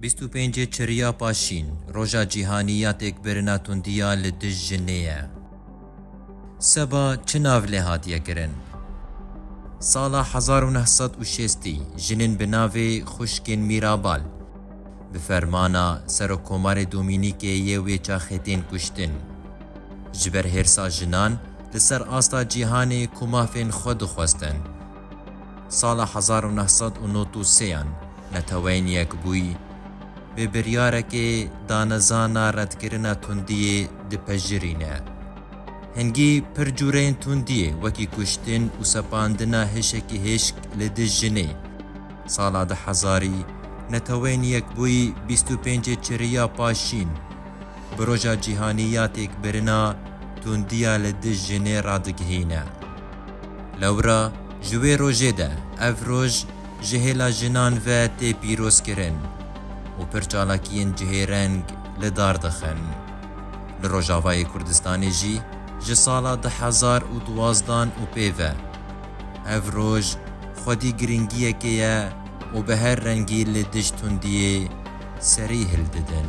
Bîst û pêncê Çirîya Paşîn, Roja Cîhanî ya Têkbirina Tundiya li Dij Jinê ye. Seba çi nav lê hatiye kirin? Sala hezar û neh sed û şêstî jinên bi navê Xwişkên Mîrabal bi fermana Serokkomarê Domînîkê yê wê çaxê tên kuştin. Ji ber hêrsa jinan li ser asta cîhanê ku mafên xwe dixwestin, Sala hezar û neh sed û nod û sêyan Neteweyên Yekbûyî bi biryarekê danezana redkirina tundiyê dipejirîne. Hingî pir cûreyên tundiyê wekî kuştin û sepandina hêşekî hêşk li dij jinê. Sala du hezarî Neteweyên Yekbûyî bîst û pêncê çiriya paşîn bi Roja Cîhanî ya Têkbirina Tundiya li dij jinê radigihîne. Lewra ji wê rojê de ev roj ji hêla jinan ve tê pîrozkirin û pir çalakiyên cihêreng li dar dixin. Li Rojavayê Kurdistanê jî ji sala du hezar û duwazdan û pê ve ev roj xwedî girîngiyekê ye û bi her rengî li dij tundiyê serî hildidin.